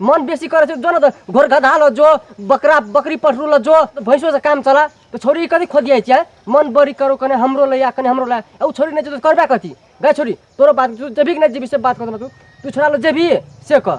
मन बेसी करे छै जो न त घर गधा ल जो बकरा बकरी पठरू ल जो भैंसो से काम चला तो छोरी कथी खोदियाइ छै मन बड़ी करो कने हमरो ले या कने हमरो ले आ उ छोरी नै जेतो त करबे कथी गे छोरी तोरो बात तू जेबी कि नै जेबी से बात कर तू तू छोरा ल जेबी से कह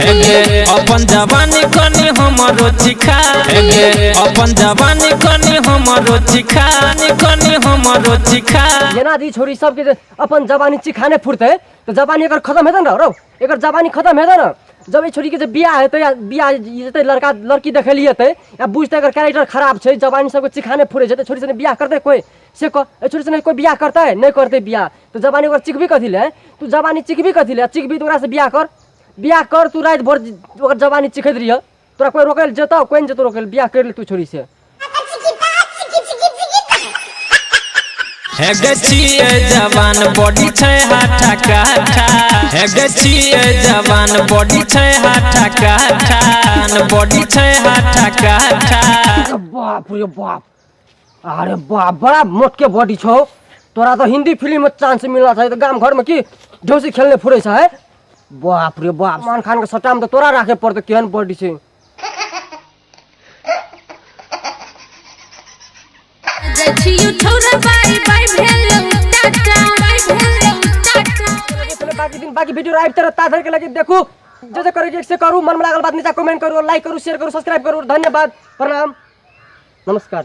हेगे अपन जवानी कनी हमरो चिखा हेगे अपन जवानी कनी हमरो चिखा नी कनी हमरो चिखा जेना दी छोरी सबके जे अपन जवानी चिखाने फुरते तो जवानी एकर खत्म हेतै न रौ एकर जवानी खत्म हेतै न जब ई छोरी के जे बियाह हेतै या बियाह जेतै लड़का लड़की देखै लिए हेतै या बुझतै एकर कैरेक्टर खराब छै जवानी सबके चिखाने फुरै छै तऽ छोरी सने बियाह करतै कोइ से कह ए छोरी से नहीं कोई बियाह करता है नहीं करते बियाह तो जवानी ओकर चिकबी कथी ले तू जवानी चिकबी कथी ले चिकबी तो ओकरा से बियाह कर बियाह कर तू रात भर ओकर जवानी चिखैत रहिए तोरा कोई रोके ले जेतौ कोई नहीं जेतौ रोके ले बियाह कर ले तू छोरी से हे गे छिए जवान बॉडी छै हाथा काठा हे गे छिए जवान बॉडी छै हाथा काठा बॉडी छै हाथा काठा अरे बाप रे बाप अरे बा बड़ा मोटके बॉडी छौ तोरा तो हिंदी फिल्म में चांस मिलना चाहिए तो गांव घर में की जोशी खेलने फुरे छ है बाप रे बाप सलमान खान के सट्टा में तो तोरा राखे पड़ते केहन बॉडी छै जछियो ठौरा बाई बाई भेलौ टाटा बाई भेलौ टाटा चले बाकी दिन बाकी वीडियो आबि तर ताधर के लगे देखू जे जे करे के एक से करू मन में लागल बात नीचा कमेंट करू लाइक करू शेयर करू सब्सक्राइब करू धन्यवाद प्रणाम नमस्कार